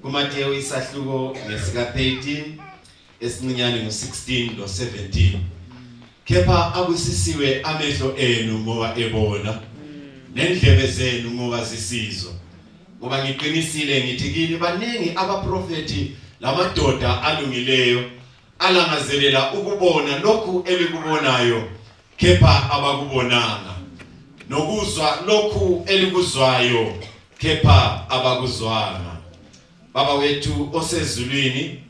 kuMateyu isahluko ngesika 13 esincinyane ngo16 lo17 kepha abusisiwe amehlo enu ngoba ebona nendlebe zenu ngoba zisizwa ngoba ngiqinisile ngithi kini baningi abaprofeti lamadoda alungileyo alangazelela ukubona lokhu elikubonayo kepha abakubonanga nokuzwa lokhu elikuzwayo kepha abakuzwanga baba wethu osezulwini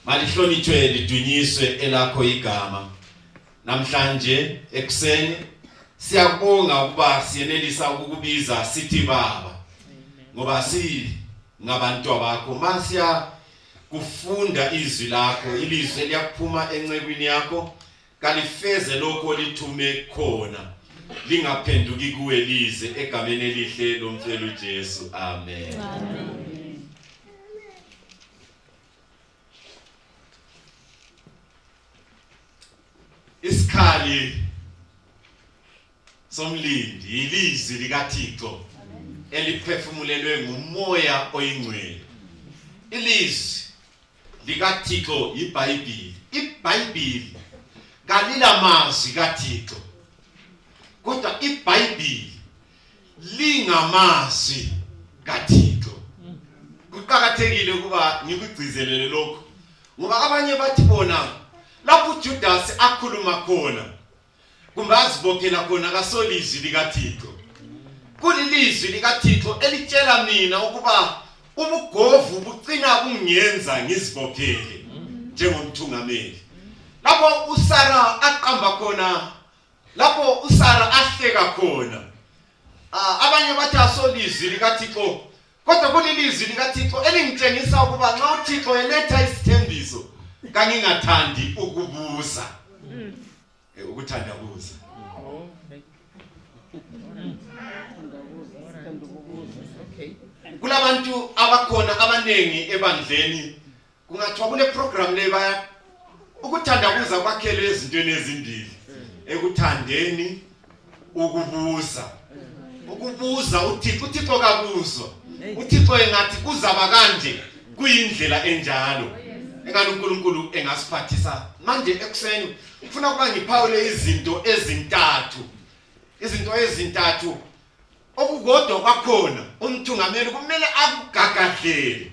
malihlonitshwe lidunyiswe elakho igama namhlanje ekuseni siyabonga ukuba siyenelisa ukukubiza sithi baba ngoba si ngabantu bakho masiya kufunda izwi lakho ilizwi liyaphuma encekwini yakho kalifeze lokho olithume khona lingaphenduki kuwe lize egameni elihle lomfelo uJesu amen amen isikhali somlindi yilizwi likaThixo eliphefumulelwe ngumoya oyingcwele ilizwi likaThixo yiBhayibhili iBhayibhili kalila mazwi kaThixo kodwa iBhayibhili lingamazwi kaThixo kuqakathekile ukuba ngikugcizelele lokho ngoba abanye bathi bona lapho uJudasi akhuluma khona kumbe azibophela khona kasolizwi likathixo kulilizwi likathixo elitshela mina ukuba ubugovu bucina kungenza ngizibophele njengomthungameli lapho usara aqamba khona lapho usara ahleka khona ah, abanye bathi asolizwi likathixo kodwa kulilizwi likathixo elingitshengisa ukuba nxa uthixo eletha isithembiso kangingathandi ukubuza mm. eh, ukuthanda buza kulabantu abakhona abanengi ebandleni kungathiwa kule program le baya ukuthanda kuza kwakhele ezintweni ezimbili ekuthandeni ukubuza ukubuza uThixo uThixo kabuzwa uThixo engathi kuzaba kanje kuyindlela enjalo engani uNkulunkulu engasiphathisa manje ekuseni ngifuna ukuba ngiphawule izinto ezintathu izinto ezintathu okukodwa kwakhona umthungameli kumele akugagadlele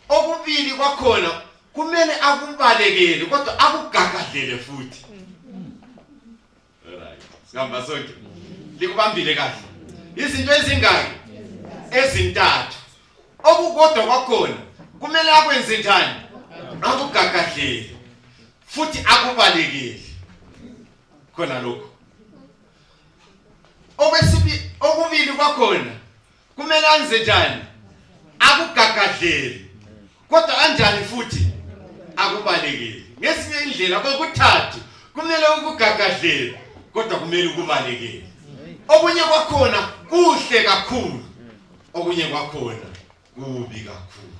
okubili kwakhona kumele akubalekele kodwa akugagadlele futhi right sihamba sonke likubambile kahle izinto ezingaki ezintathu okukodwa kwakhona kumele akwenze njani akugagadlele futhi akubalekele khona lokho okwesibili okubili kwakhona kumele anze njani akugagadleli kodwa anjani futhi akubalekeli ngesinye indlela kokuthathu kumele ukugagadleli kodwa kumele ukubalekeli okunye kwakhona kuhle kakhulu okunye kwakhona kubi kakhulu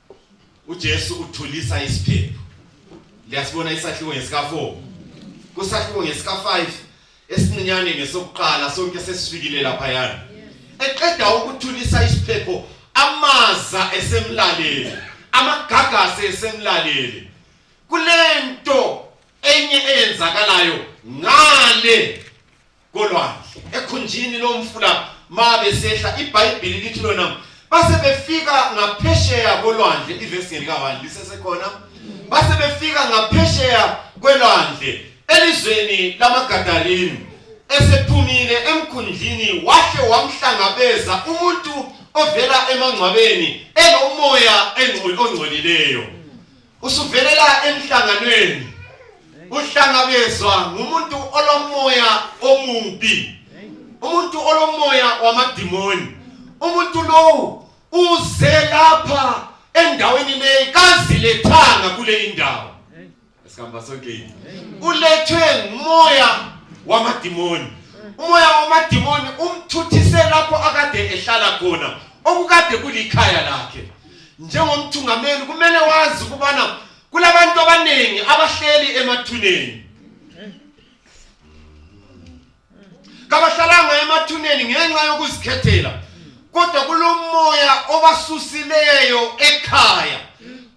uJesu uthulisa isiphepho liyasibona isahluko ngesika 4 kusahluko ngesika 5 esincinyane ngesokuqala sonke sesifikile lapha yana eqeda ukuthulisa isiphepho amaza esemlaleli amagagasi esemlaleli kulento enye eyenzakalayo ngale kolwandle ekhunjini lomfula ma besehla ibhayibhili lithi lona base befika ngaphesheya kolwandle ivesi ngelikawani lisesekhona base befika ngaphesheya kwelwandle elizweni lamagadalini esephumile emkhundlini wahle wamhlangabeza umuntu ovela emangcwabeni enomoya ongcolileyo usuvelela emhlanganweni uhlangabezwa ngumuntu olomoya omubi umuntu olomoya wamadimoni umuntu lowu uze lapha endaweni leyi kazilethanga kule indawo esihamba sonke ulethwe ngumoya wamadimoni umoya wamadimoni umthuthise lapho akade ehlala khona okukade kulikhaya lakhe njengomthungameli kumele wazi ukubana kulabantu abaningi abahleli emathuneni kabahlalanga emathuneni ngenxa yokuzikhethela kodwa kulomoya obasusileyo ekhaya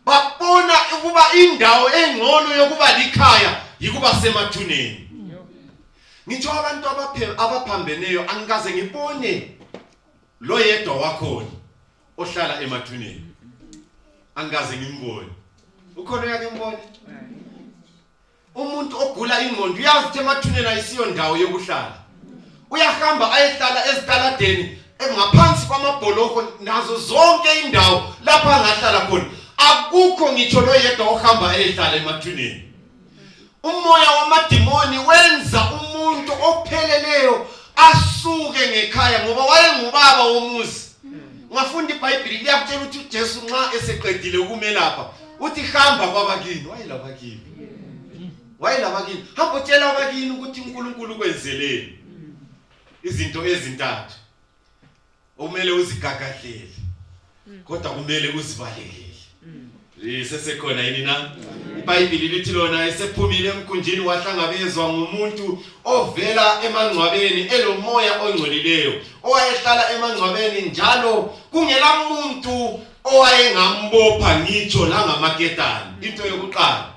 babona ukuba indawo engcono yokuba likhaya yikuba semathuneni ngitsho abantu abaphambeneyo angikaze ngibone loyedwa wakhona ohlala emathuneni angikaze ngimbone ukhona yake mbone umuntu ogula ingqondo uyazi ukuthi emathuneni ayisiyo ndawo yokuhlala uyahamba ayehlala ezitaladeni ngaphansi kwamabholoko nazo zonke indawo lapha angahlala khona akukho ngitsho loyedwa ohamba eyehlala emathuneni umoya wamadimoni wenza umuntu opheleleyo asuke ngekhaya ngoba wayengubaba womuzi ungafunda ibhayibhili liyakutshela ukuthi ujesu nxa eseqedile ukumelapha uthi hamba kwabakini wayelabakini wayelabakini hamba utshela abakini ukuthi unkulunkulu kwenzeleni izinto ezintathu okumele uzigagadlele mm. kodwa kumele uzibalekele mm. lisesekhona yini na mm. ibhayibhili lithi lona esephumile emkhunjini wahlangabezwa ngumuntu ovela emangcwabeni elomoya ongcolileyo owayehlala emangcwabeni njalo kungela muntu owayengambopha ngitsho langamaketani into yokuqala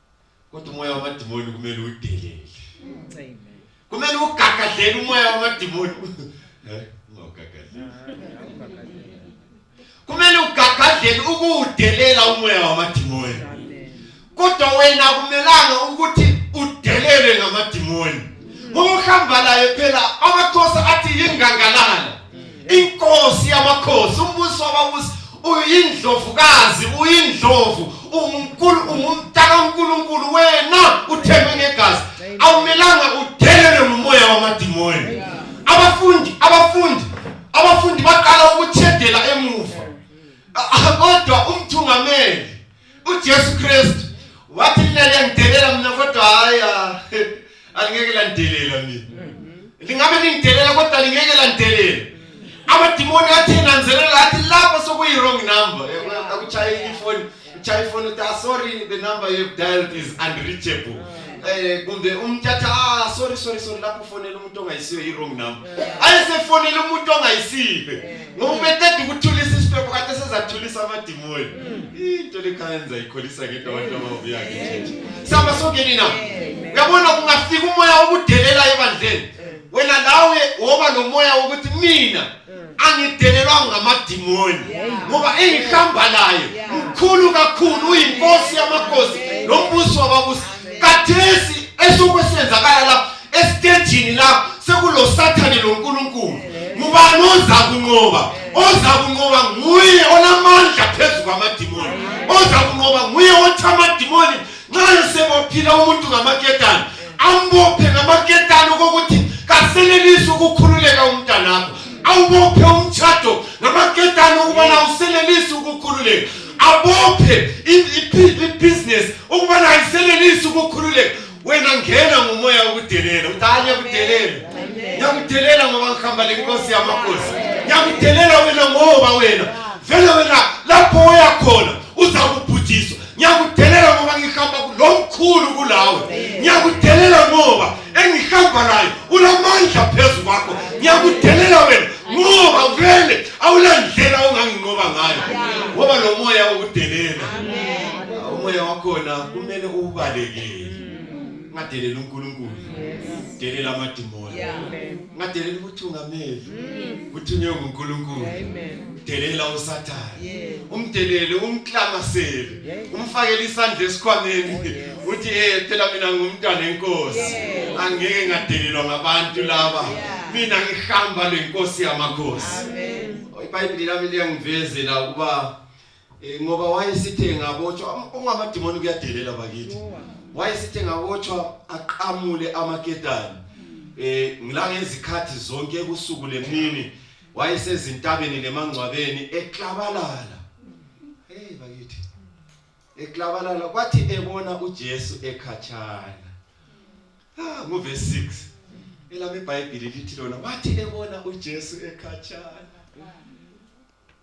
kodwa umoya wamadimoni kumele udelele amen kumele ugagadlele umoya wamadimoni eh ungagadlele kumele ugagadlele ukudelela umoya wamadimoni kodwa wena kumelanga ukuthi udelele ngamadimoni ngokuhamba laye phela amakhosi athi yingangalala inkosi yamakhosi umbusi wababusi uyindlovukazi uyindlovu unkulu ungumntana uNkulunkulu wena uthengwe ngegazi awumelanga udelele ngomoya wamadimoni abafundi abafundi abafundi baqala ukuthedela emuva kodwa umthungameli uJesu Kristu wathi mina liyangidelela mina kodwa hayi ah, alingeke langidelela mina lingabe lingidelela kodwa lingeke langidelela amadimoni athi nanzelela athi lapho sokuyi-wrong number eh, akuchayile ifoni uchaye ifoni uthi ah, sorry the number you've dialed is unreachable eh kumbe umthatha ah sorry sorry sorry lapho ufonela umuntu ongayisiyo i-wrong number ayesefonela umuntu ongayisiyo ngoba ubeqeda ukuthulisa isiphepho kade sezathulisa amadimoni into lekhayenza ikholisa ngento abantu ababuya ngechechi sihamba songeni na uyabona kungafika umoya wokudelela ebandleni wena lawe woba nomoya wokuthi mina angidelelwa ngamadimoni ngoba engihamba laye mkhulu kakhulu uyinkosi yamakhosi nombuso wababusi kathesi esuku esenzakala lapho esitejini lapho sekulosathane lonkulunkulu ngubani oza kunqoba oza kunqoba nguye onamandla phezu kwamadimoni oza kunqoba nguye othi amadimoni nxa esebophila umuntu ngamaketane ambophe ngamaketane okokuthi kasenelisi ukukhululeka umntanakho awubophe umtshado ngamaketane ukubana usenelisi ukukhululeka abophe ibhizinesi ukubana ayisenelisi ukukhululeka wena ngena ngomoya wokudelela ukuthi hayi ngiyakudelela ngiyakudelela ngoba ngihamba le nkosi yamakhosi ngiyakudelela wena ngoba wena vele wena lapho oya khona uzakubhujiswa ngiyakudelela ngoba ngihamba lo mkhulu kulawe ngiyakudelela ngoba engihamba nayo unamandla phezu kwakho ngiyakudelela wena ngoba vele awulandlela onganginqoba ngayo ngoba lo moya wokudelela umoya wakhona kumele uwubaleke ngadelela uNkulunkulu delela amadimoni ngadelela ubuthungameli kuthunywe mm. nguNkulunkulu delela usathane umdelele umklamasele umfakele isandla esikhwameni oh, uthi eh phela mina ngumntwana enkosi angeke ngadelelwa ngabantu laba mina ngihamba lenkosi yamakhosi iBhayibheli lami liyangivezela ukuba Eh, ngoba wayesithe ngabotshwa um, ungamadimoni kuyadelela bakithi wayesithe ngabotshwa aqamule amaketani eh ngila ngezikhathi zonke ebusuku lemini wayesezintabeni lemangcwabeni eklabalala hey bakithi eklabalala kwathi ebona uJesu ekhatshana ah ngove 6 elami iBhayibheli lithi lona wathi ebona uJesu ekhatshana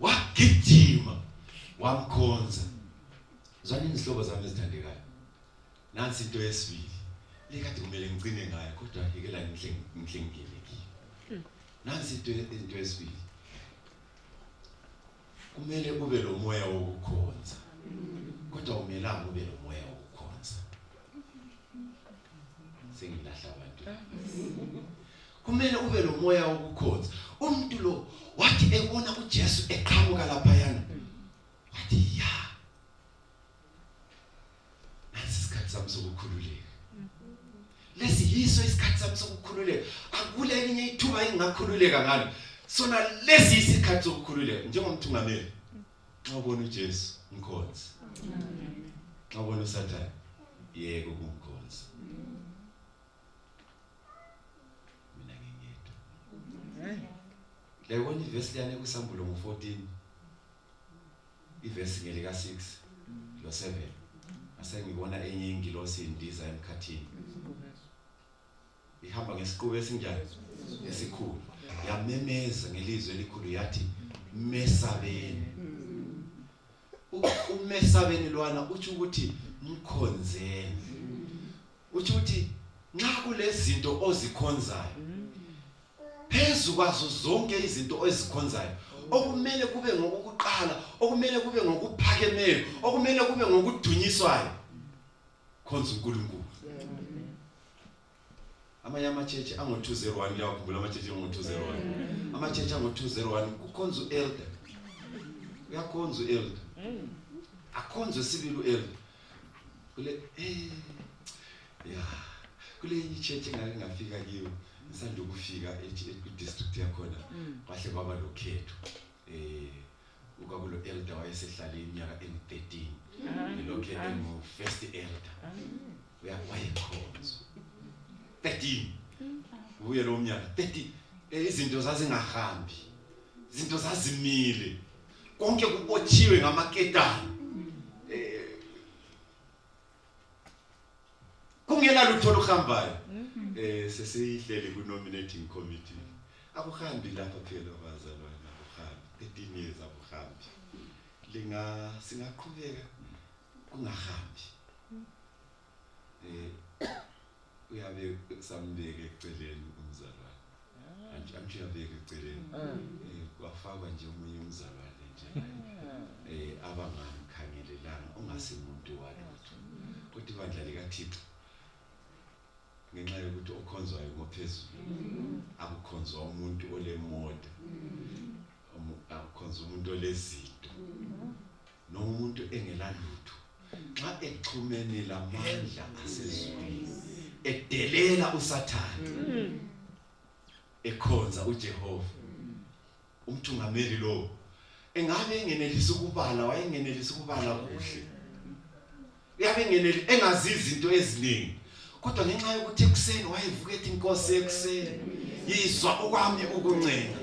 wagijima wamkhonza zwana izihlobo zami ezithandekayo nansi into yesibili le kade kumele ngicine ngayo kodwa yekela ngihle ngihle ngingene kiyo nansi into into yesibili kumele ube lo moya wokukhonza kodwa umelanga ube lo moya wokukhonza sengilahla abantu kumele ube lomoya wokukhonza umuntu lo wathi ebona uJesu eqhamuka lapha yana wathi ya nasi isikhathi sami sokukhululeka lesi yiso isikhathi sami sokukhululeka akule elinye ithuba engingakhululeka ngalo sona lesi isikhathi sokukhululeka njengomthungameli nxa ubona uJesu mkhonzi nxa ubona uSathane yeke ukumkhonza mina ngingedwa layibona ivesi liyane kwisambulo ngo-14 ivesi ngelika-6 lo-7 asengibona enye ingilosi indiza emkhathini ihamba ngesiqubu esinjani esikhulu yamemeza ngelizwi elikhulu yathi mesabeni umesabeni lwana uthi ukuthi mkhonzeni uthi ukuthi nxa kulezinto ozikhonzayo phezu kwazo zonke izinto ozikhonzayo okumele kube ngokuqala okumele kube ngokuphakemeyo okumele kube ngokudunyiswayo khonza uNkulunkulu amanye amachechi ango-201 liyawakhumbula amachechi ango-201 amachechi ango-201 kukhonza u-elder uyakhonza u-elder akhonzwe sibili u-elder kule eh, ya kule enye ichechi engake ngafika kiyo ngisanda ukufika kwi-district yakhona kwahle kwaba lokhetho eh ukakulo elder wayesehlale iminyaka engu-13 elokhe engu-first elder wayekhonzwa 13 ubuye lowo mnyaka 13 eh, izinto zazingahambi izinto zazimile konke kubotshiwe ngamaketane kungenalutho oluhambayo mm-hmm. eh sesiyihleli ku nominating committee akuhambi lapha phela bazalwana akuhambi etiniyeza akuhambi linga singaqhubeka kungahambi eh uyabe samubeke eceleni umzalwane anti anti uyabeka eceleni Eh, kwafakwa nje omunye umzalwane nje eh abangamkhangelelanga ongasimuntu walutho kodwa ibandla likaThixo ngenxa yokuthi okhonzwayo ngophezulu akukhonzwa umuntu olemota umu- akukhonzwa umuntu olezinto noma umuntu engelalutho nxa exhumene lamandla asezulwini edelela usathane ekhonza uJehova umthungameli lo engabe engenelisa ukubala wayengenelisa ukubala kuhle uyabe engeneli engazi izinto eziningi kodwa ngenxa yokuthi ekuseni wayevuka ethi inkosi ekuseni yizwa okwami ukuncenga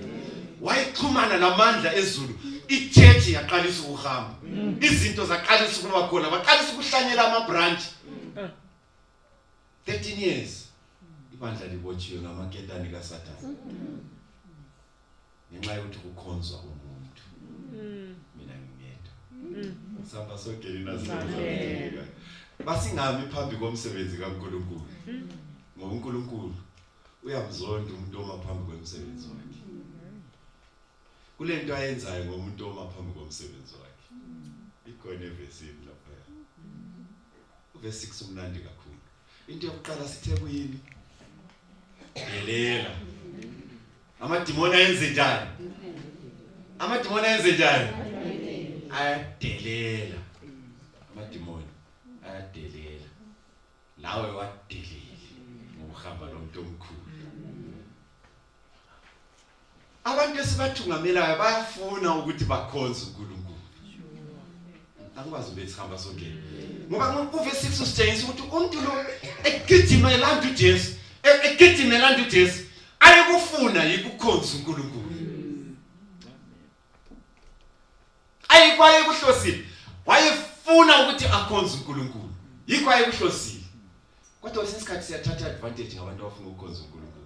wayexhumana namandla ezulu ichurch yaqalisa ukuhamba izinto zaqalisa ukuba khona baqalisa ukuhlanyela ama branch 13 years ibandla libotshiwe ngamaketani kaSathane ngenxa yokuthi kukhonzwa umuntu mm. mina ngingedwa mm. sihamba sogelina sizozeleka basingami phambi komsebenzi kaNkulunkulu mm. ngoba uNkulunkulu uyamzonda umuntu oma phambi komsebenzi wakhe kulento ayenzayo ngomuntu oma phambi komsebenzi wakhe ikhona evesini lapha uvesi 6 umnandi kakhulu into yokuqala sithe kuyini delela amadimoni ayenze njani amadimoni ayenze njani ayadelela amadimoni ayadelela lawe wadelile ngokuhamba lomuntu omkhulu Abantu esibathungamelayo bayafuna ukuthi bakhonze uNkulunkulu. Angikwazi ukuthi sihamba sonke. Ngoba kuve 6 usitshengisa ukuthi umuntu lo egijima elanda uJesu, e-, egijima elanda uJesu, ayekufuna yikukhonza uNkulunkulu. Ayikwaye kuhlosile. Wayefuna ukuthi akhonze uNkulunkulu. Yikho ayekuhlosile. Kodwa sesikhathi siyathatha advantage ngabantu abafuna ukukhonza uNkulunkulu.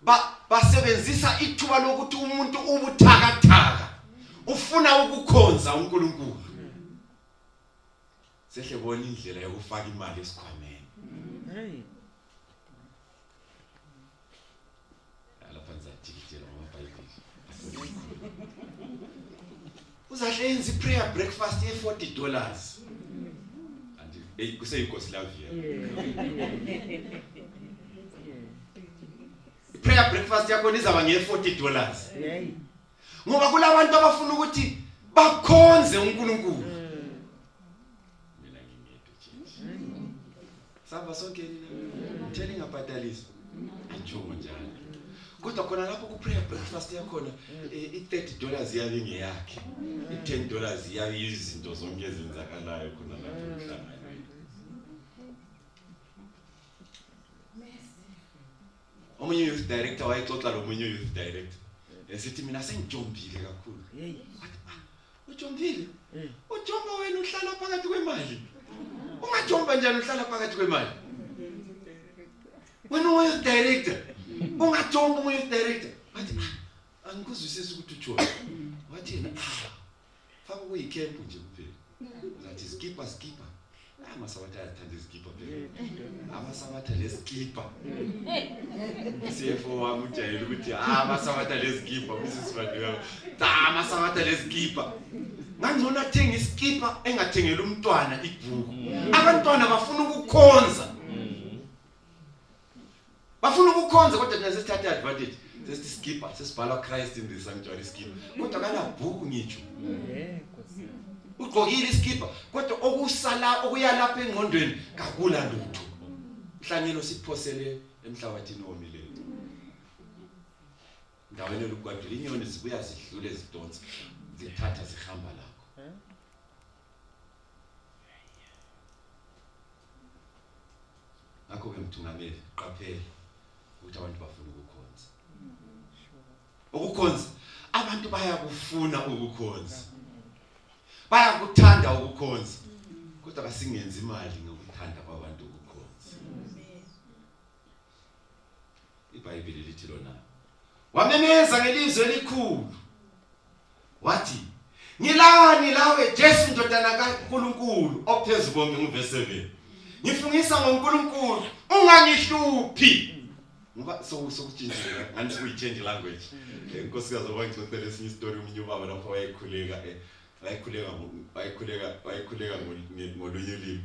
ba basebenzisa ithuba lokuthi umuntu ubuthakathaka ufuna ukukhonza uNkulunkulu sehle bona indlela yokufaka imali esikhwameni hey uzahle yenze iprayer breakfast ye 40 dollars hey kuseyinkosi love you prayer breakfast yakho izaba nge 40 dollars ngoba kulabantu abafuna ukuthi bakhonze uNkulunkulu samba sonke theli ingabhadaliswa atshomo njalo kodwa khona lapho kuprayer breakfast yakhona eh, i-30 dollars iyabe ingeyakhe i-10 dollars iyabe izinto zonke ezenzakalayo khona lapho emhlanganweni omunye youth director wayexoxa lomunye youth director esithi mina sengijombile kakhulu Ujombile? Eh. Ujomba wena uhlala phakathi kwemali. Ungajomba njani uhlala phakathi kwemali? Wena uyiz director. Ungajomba uyiz director. Wathi ah, angikuzwisisi ukuthi ujona. Wathi yena ah, faka kuyikhempu nje kuphela. Ngathi skipper skipper. amasabatha ayathanda izikibha amasabatha lezikibha cfo wami ujayele ukuthi ah, amasabatha lezikibha kusisibadleka cha amasabatha lezikibha ngangcono athenga isikibha engathengeli umntwana ibhuku abantwana bafuna ukukhonza bafuna ukukhonza kodwa thina sesithatha advantage sesithi skipper sesibhala Christ in the sanctuary skipper kodwa kanabhuku ngitsho ugqokile iskipper kodwa okusala okuyalapha engqondweni kakula lutho mhlanyelo siphosele emhlabathini omileyo ndaweni lokugwadula inyoni zibuya zidlule zidonsa zithatha zihamba lapho ngakho-ke mthungameli qaphela ukuthi abantu bafuna ukukhonza ukukhonza abantu bayakufuna ukukhonza bayakuthanda ukukhonza kodwa kasingenzi imali ngokuthanda kwabantu ukukhonza iBhayibheli lithi lona wamemeza ngelizwi elikhulu wathi ngilani lawe Jesu ndodana kaNkulunkulu ophezulu konke ngivese 7 ngifungisa ngoNkulunkulu ungangihluphi ngoba sokutshintsha ngani sekuyi-change language inkosikazi eh, oba ngixoxela esinye isitori omunye ubaba lapho wayekhuleka eh, wayekhuleka wayekhuleka wayekhuleka ngolunye ulimi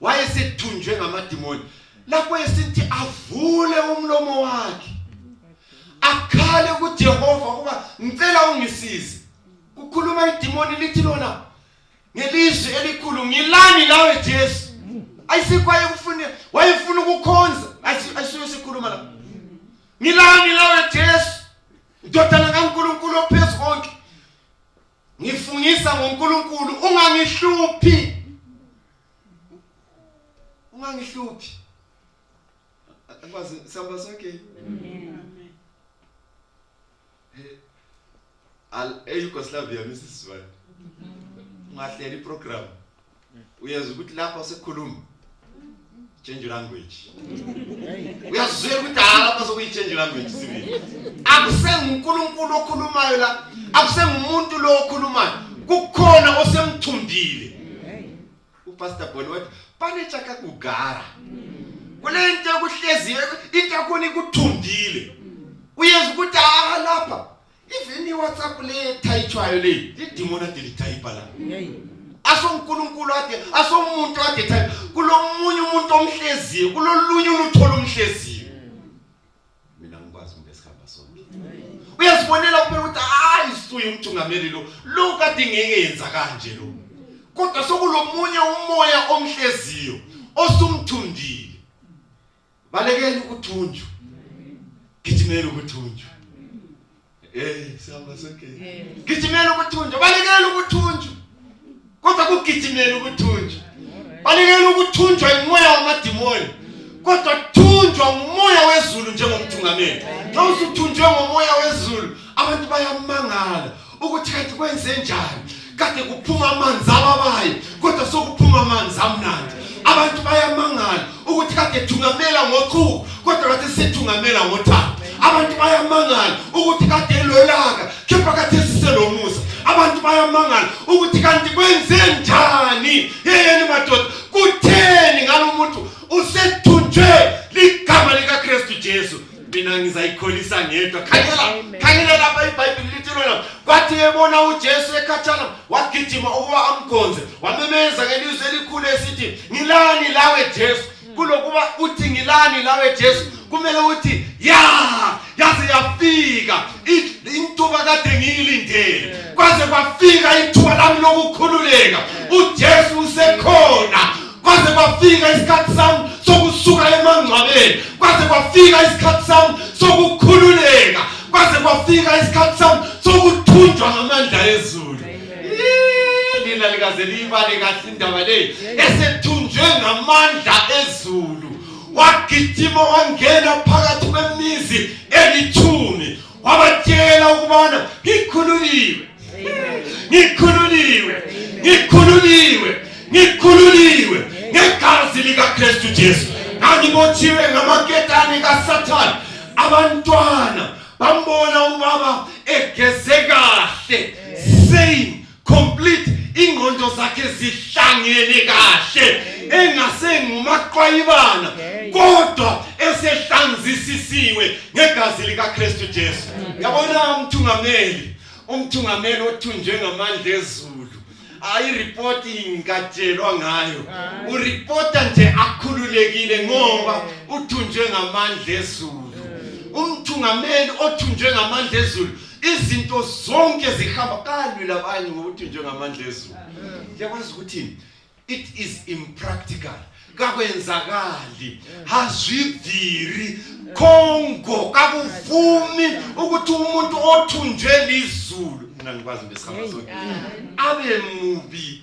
wayesethunjwe ngamadimoni lapho esithi avule umlomo wakhe akhale kuJehova kuba ngicela ungisize kukhuluma idimoni lithi lona ngelizwi elikhulu ngilani lawe Jesu ayisikho ayekufuna wayefuna ukukhonza ayisuke sikhuluma la ngilani lawe Jesu ndodana kaNkuluNkulu ophezulu konke ngifungisa ngoNkulunkulu ungangihluphi ungangihluphi akwazi sihamba sonke amen al eYugoslavia misizwana ungahleli program uyezwa ukuthi lapha sekukhuluma change language uyazwela ukuthi hayi lapha sokuyi-change language sibili akusengunkulunkulu okhulumayo la akusengumuntu lo okhulumayo kukhona osemthumbile upastor boni wathi panetshaka kugara kule nto ekuhleziyo into yakhona ikuthumbile uyezwa ukuthi haha lapha Even iWhatsApp le typewayo le lidimona de litype la. Asonkulunkulu ade asomuntu ade type kulomunye umuntu omhleziyo kulolunye uluthola umhleziyo. Mina ngikwazi umuntu esikhamba sonke. Uyazibonela kuphela ukuthi hayi suye umthungameli lo lo kade ngeke yenza kanje lo. Kodwa sokulomunye umoya omhleziyo osumthundile. balekele ukuthunjwa gijimela ukuthunjwa eh sihamba sonke gijimela ukuthunjwa balekele ukuthunjwa kodwa kugijimela ukuthunjwa balekele ukuthunjwa imoya wamadimoni kodwa thunjwa ngumoya wezulu njengomthungameli nxa usuthunjwe ngomoya wezulu abantu bayamangala ukuthi kanti kwenze njani kade kuphuma amanzi ababayo kodwa sokuphuma amanzi amnandi abantu bayamangala ukuthi kade thungamela ngochuku kodwa kade sithungamela ngothando abantu bayamangala ukuthi kade elolaka kepha kade siselomusa abantu bayamangala ukuthi kanti kwenze njani yeyeni madoda kutheni ngalo muntu usethunjwe ligama likaKristu Jesu mina ngizayikholisa ngedwa khangela Amen. khangela lapha ibhayibhili lithi lona kwathi ebona ujesu ekhatshana wagijima ukuba amkhonze wamemeza ngelizwi elikhulu esithi ngilani lawe jesu kulokuba uthi ngilani lawe jesu kumele uthi ya yaze yafika I- intuba kade ngiyilindele kwaze kwafika ithuba lami lokukhululeka ujesu usekhona kwaze kwafika isikhathi sami sokusuka emangcwabeni kwaze kwafika isikhathi sami sokukhululeka kwaze kwafika isikhathi sami sokuthunjwa ngamandla ezulu lina likaze liyibale kahle indaba leyi esethunjwe ngamandla ezulu wagijima wangena phakathi kwemizi elithumi wabatshela ukubana ngikhululiwe ngikhululiwe ngikhululiwe ngikhululiwe ngegazi likaKristu Jesu ngangibotshiwe ngamaketane kaSathane abantwana bambona ubaba egeze kahle same complete ingqondo zakhe zihlangene kahle engasengumaqwayibana kodwa esehlanzisisiwe ngegazi likaKristu Jesu yabona umthungameli umthungameli othunjwe ngamandla ezulu ayiripoti ingatshelwa ngayo uripota nje akhululekile ngoba uthunjwe ngamandla ezulu umthungameli othunjwe ngamandla ezulu izinto zonke zihamba kalwi labanye ngokuthi njengamandla ezulu yakwazi ukuthi it is impractical kakwenzakali hazvibviri kongo kakuvumi ukuthi umuntu othunjwe lizulu mina ngikwazi ngesikhathi sonke abe mubi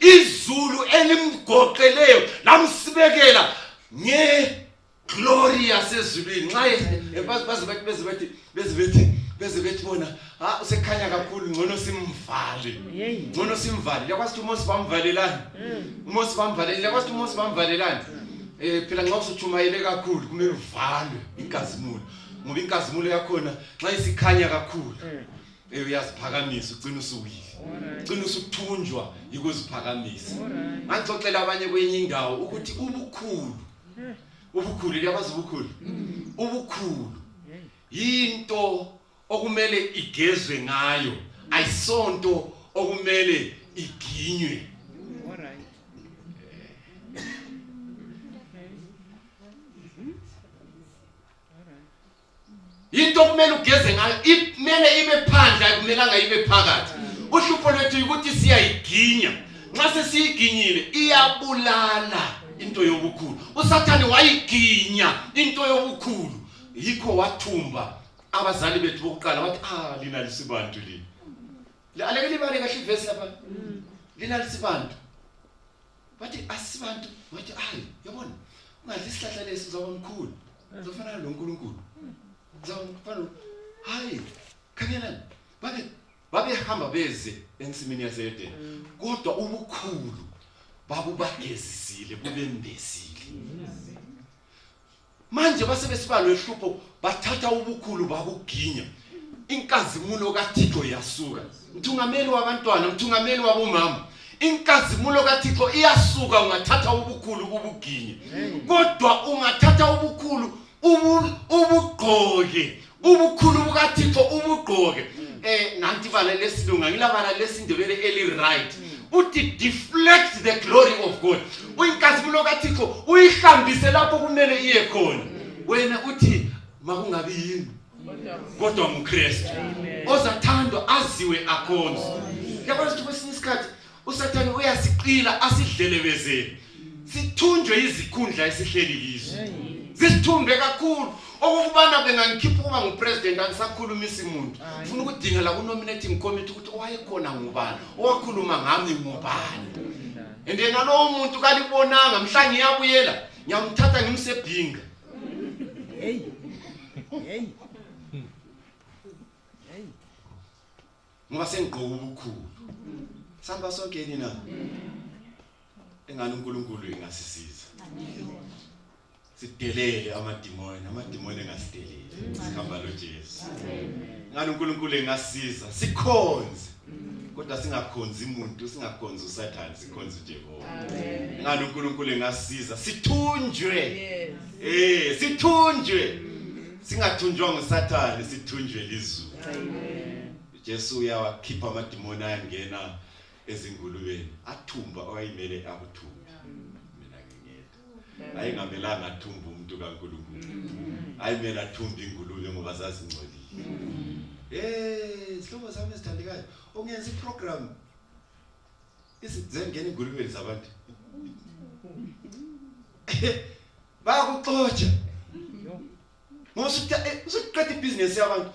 izulu elimgoqeleyo lamsibekela nge glory yasezulwini nxa baze bathi beze bathi beze bathi beze bethi bona ha usekhanya kakhulu ngcono simvale ngcono simvale yakwazi ukuthi uMose bamvalelani mm. uMose bamvalelani yakwazi ukuthi uMose bamvalelani eh phela nxa usutshumayele kakhulu kumele uvalwe inkazimulo ngoba inkazimulo yakhona nxa isikhanya kakhulu mm. Eh, uyaziphakamisa ugcina usuwile ugcina usuthunjwa yikuziphakamisa ngangixoxela abanye kwenye indawo ukuthi ubukhulu eh. ubukhulu liyabazi ubukhulu mm. ubukhulu eh. yinto okumele igezwe ngayo ayisonto okumele iginywe yinto okumele ugeze ngayo kumele ibe phandle ayikumelanga ibe phakathi uhlupho lwethu ukuthi siyayiginya nxa sesiyiginyile iyabulala into yobukhulu usathane wayiginya into yobukhulu yikho wathumba abazali bethu bokuqala wathi ah lina lisibantu lina aleke libale kahle ivesi lapha lina lisibantu bathi asibantu wathi hayi yabona ungadla isihlahla lesi uzawuba mkhulu uzofana nalo nkulunkulu uzawufana hayi khangelani babe babehamba beze ensimini yaseedeni mm. kodwa ubukhulu babubagezisile bubembezile manje basebesiba lwehlupho bathatha ubukhulu babuginya inkazimulo kathixo iyasuka mthungameli wabantwana mthungameli wabomama inkazimulo kathixo iyasuka ungathatha ubukhulu ubuginye kodwa ungathatha ubukhulu ubugqoke ubukhulu bukathixo ubugqoke mm. eh nanti bala lesilunga ngilabala lesindebele eli right mm. uthi deflect the glory of god mm. uyinkazimulo kathixo uyihambise lapho kumele iye khona wena uthi makungabi yini kodwa ngukristu ozathandwa aziwe akhonze yabona ukuthi kwesinye isikhathi usathane uyasiqila asidlelebezele sithunjwe izikhundla esihleli kizo zisithumbe kakhulu okokubana bengangikhipha ukuba ngupresident angisakhulumisi muntu funa ukudingela kunominating committee ukuthi owayekhona ngubani owakhuluma ngami ngubani and yena lowo muntu kalibonanga mhla ngiyabuyela ngiyamthatha ngimsebhinga ngoba sengigqoka ubukhulu sihamba sonke yini na engani uNkulunkulu engasisiza sidelele amadimoni amadimoni engasidelele sihamba loJesu ngani uNkulunkulu engasiza sikhonze kodwa singakhonzi umuntu singakhonzi usathane sikhonze uJehova amen ngani uNkulunkulu engasiza sithunjwe yes eh sithunjwe mm. singathunjwa ngusathane sithunjwe lizulu ujesu uyawakhipha amadimoni ayangena ezingulubeni athumba owayimele akuthumbe mina ngingeda ayingamelanga athumbe umuntu kankulunkulu ayimele athumbe ingulube ngoba zazingcolile um sihlobo sami esithandekayo ungenza iprogramu izingeni ingulubeni zabantu bayakuxotsha ngoba usuqeda eh, ibhizinesi yabantu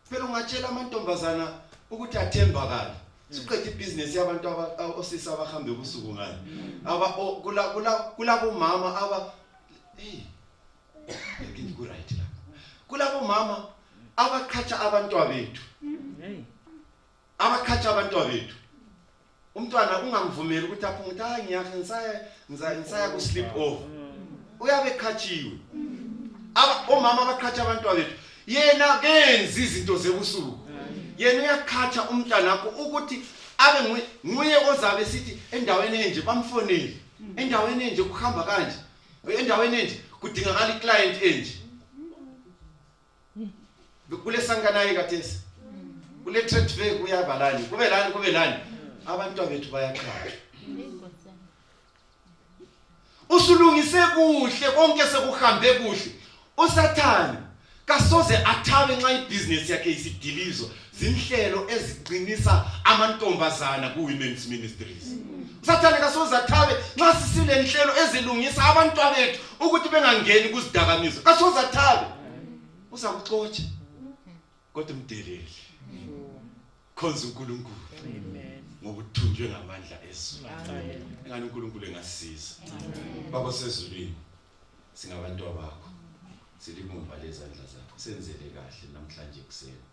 phela ungatshela amantombazana ukuthi athembakala siqeda ibhizinesi yabantu osisi abahambe ubusuku ngani aba kulabomama aba kulabomama abaqhatsha abantwabethu abakhatha abantwana bethu umntwana ungamvumeli ukuthi aphume ukuthi hayi ngiyahe ngisaya ngisaya ku sleep off uyabe ekhathiwe aba omama abakhatha abantwana bethu yena kenzi izinto zebusuku yena uyakhatha umntwana wakho ukuthi abe nguye ozabe sithi endaweni enje bamfonele endaweni enje kuhamba kanje endaweni enje kudingakala iclient enje kule sankanayi kathesi kule trade fair kuyaba lani kube lani kube lani abantwana bethu bayaqhathwa usulungise kuhle konke sekuhambe kuhle usathane kasoze athabe nxa ibhizinesi yakhe isidilizwa zinhlelo eziqinisa amantombazana ku women's ministries sathane kasoze athabe nxa sisile nhlelo ezilungisa abantwana bethu ukuthi bengangeni kuzidakamizwa kasoze athabe uzakuxotsha kodwa umdeleli khonza uNkulunkulu ngokuthunjwe ngamandla ezulu engani uNkulunkulu engasiza baba sezulwini singabantu bakho silibumba lezandla zakho senzele kahle namhlanje kuseni